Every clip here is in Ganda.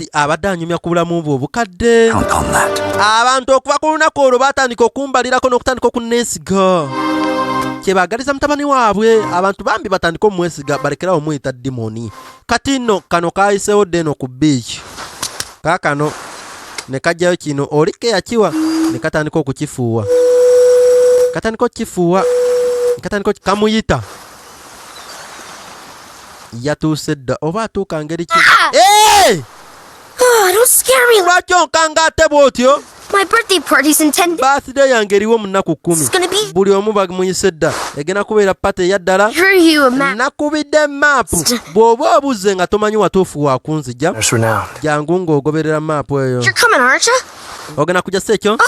Kati abadde anyumya ku bulamu bwe obukadde. Abantu okuva ku lunaku olwo baatandika okumbalirako n'okutandika okunneesiga kyebaagaliza mutabani waabwe abantu bambi batandike omumwesiga balekerawo omuyita dimoni kati nno kano kaayiseewo dde eno ku biiki kaakano ne kajjayo kino oli ke yakiwa ne katandika okukifuuwa katandika okukifuuwa katandika kamuyita yatuuse dda oba atuuka ngeri ki ah! ah, lwaki onkanga ate bw'otyo birthday yange eriwo mu nnaku kkumi buli omu bamuyise dda egenda kubeera pate eya ddala nakubidde maapu bw'oba obuzze nga tomanyi watuufu wakunzija jangu ng'ogoberera maapu eyo ogenda kujja si ekyo oh,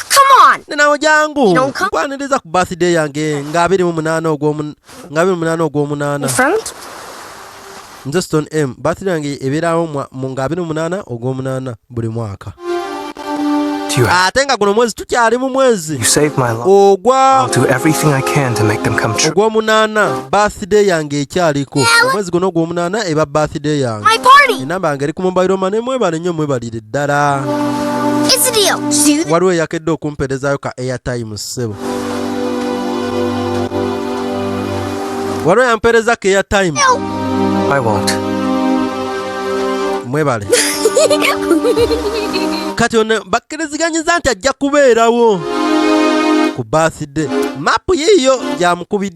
nenawe jangu nkwaniriza ku birthday yange nga abiri mu munaana ogw'omunaana nze stone m birthday yange ebeerawo nga abiri mu munaana ogw'omunaana buli mwaka ate nga guno mwezi tukyali mu mwezi ogw'omunaana birthday yange ekyaliko omwezi guno ogw'omunaana eba birthday yange enamba yange eri ku mobile mane mwebalennyo mwebalire ddala waliwo eyakedde okumperezayo ka airtime ssebo waliwo yampeereza ka airtime mwebale kati ono bakkiriziganyiza nti ajja kubeerawo ku birthday mapu yiiyo gyamukubidde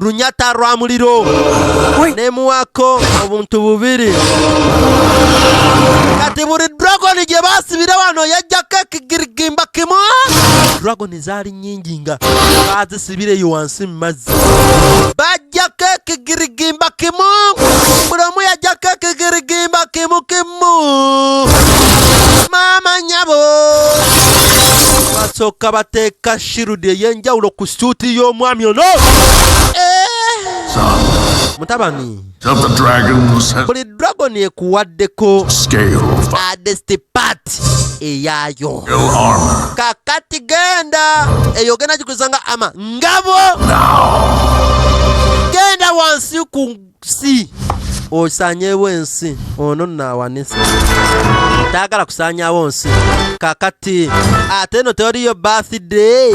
lunyata lwa muliro nemuwako obuntu bubiri kati buli dragoni gye basibira wano yajjako ekigirigimba kimu dragoni zaali nyingi nga bazisibireyo wansi mu mazzi bajjako ekigirigimba kimu buli omu yajjako ekigirigimba kimu kimu maama nyabo basooka bateeka Shield eyenjawulo ku suuti y'omwami ono. Mutabani. Buli dragon ekuwaddeko adesti part eyaayo. Kakati genda eyo genda gikuza nga ama ngabo. Genda wansi ku si osanyeewo ensi ono naawanisa taagala kusanyawo nsi kakati ate eno teriyo birthday